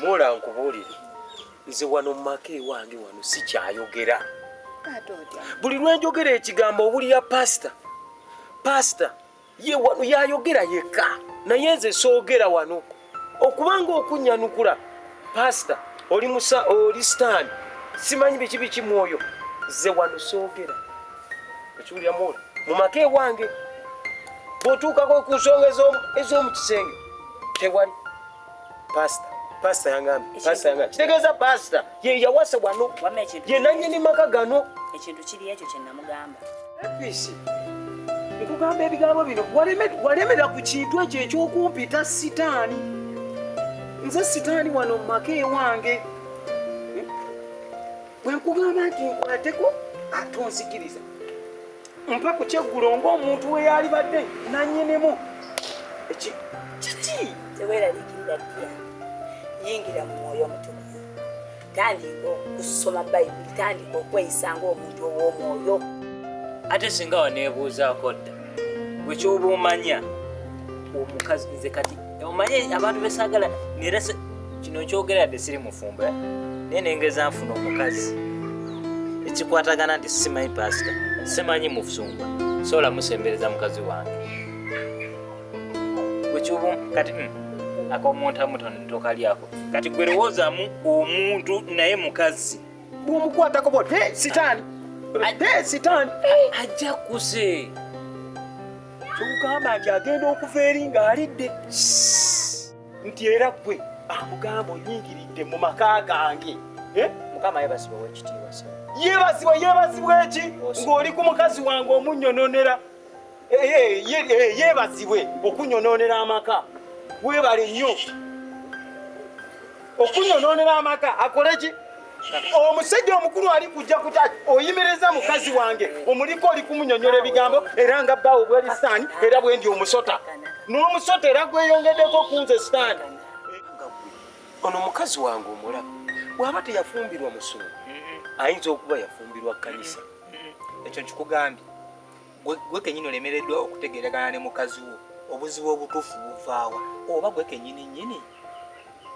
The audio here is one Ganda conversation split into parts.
Mola nkubuulire nze wano mu maka ewange wano sikyayogera buli lwenjogera ekigambo owulira pasita pasita ye wano yayogera yekka naye nze soogera wano okubanga okunyanukula Pastor, oli musa oli sitaani simanyi biki biki mwoyo ze wano soogera ekiwulira mwoyo mu maka ewange bw'otuukako ku nsonga ez'omu kisenge tewali pasita pasita yangambye pasita yangambye kitegeeza pasita ye yawasa wano ye nannyini maka gano ekintu kiri ekyo kye namugamba nkugamba ebigambo bino walemera ku kintu ekyo ekyokumpita sitaani nze sitaani wano mu maka ewange bwenkugamba nti nkulateko ate onzikiriza mpa ku kyeggulo ng'omuntu we yaalibadde nanyinimu eki kiki teweeraliikirira ddiya yingira mu mwoyo omutukuvu tandika okusoma bayibuli tandika okweyisa ng'omuntu ow'omwoyo ate singa waneebuuzaako dda gwe kyoba omanya omukazi nze kati omanye abantu besaagala nera kino nkyogera yadde siri mufumbo eh? naye nengeza nfuna omukazi ekikwatagana nti simanyi pasita simanyi mufumbo sobola musembereza mukazi wange wekyubu kati mm, akomuntamu tokalyako kati gwe lowoozamu omuntu naye mukazi bwomukwatako bo sitaani sitaani ajja kuze kyogamba nti agenda okuva eri ng'alidde nti era gwe amugamba oyingiridde mu maka gange eh? mukama yebazibwa wekitiibwa yebazibwa yebazibwa eki ng'oli ku mukazi wange omunyononera yeebazibwe okunyonoonera amaka weebale nnyo okunyonoonera amaka akole ki omusajja omukulu ali kujja kuta oyimiriza mukazi wange omuliko oli kumunyonyola ebigambo era nga bbaawo bwali sitaani era bwendi omusota n'omusota era gweyongeddeko kunze sitaani ono mukazi wange omulaba bwaba teyafumbirwa musungu ayinza okuba yafumbirwa kanisa ekyo nkikugambye gwe kenyini olemereddwa okutegeeragana ne mukazi wo obuzibu obutuufu buvaawa oba gwe kenyini nyini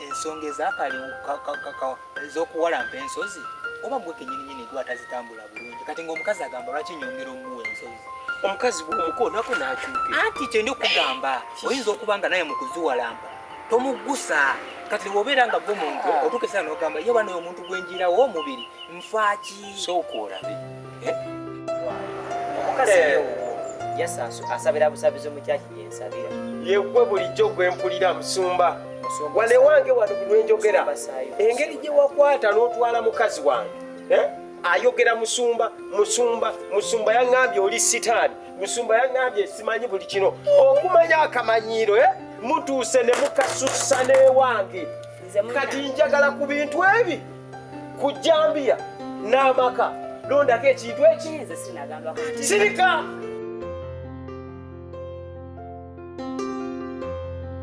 ensonga ez'okuwalampa ensozi oba gwe kenyini nyini gwe atazitambula bulungi kati ngaomukazi agamba lwaki nyongera omuwa ensozi omukazi omukonako nakyuke anti kyendi okugamba oyinza okuba nga naye mukuziwalampa tomugusa kati wobeera nga gwe muntu otuuka esaa nogamba ye banaye omuntu gwenjirawo omubiri nfaaki sooka olabe asabira busabizi mukyaki gyensabira yegwe bulijjo gwe mpulira musumba wane wange wano bulwenjogera engeri gye wakwata n'otwala mukazi wange eh? ayogera musumba musumba musumba yaŋambye oli sitaani musumba yaŋambye simanyi buli kino okumanya akamanyiiro eh? mutuuse ne mukasusa n'ewange kati njagala ku bintu ebi ku jjambiya n'amaka londako ekintu ekinze sirika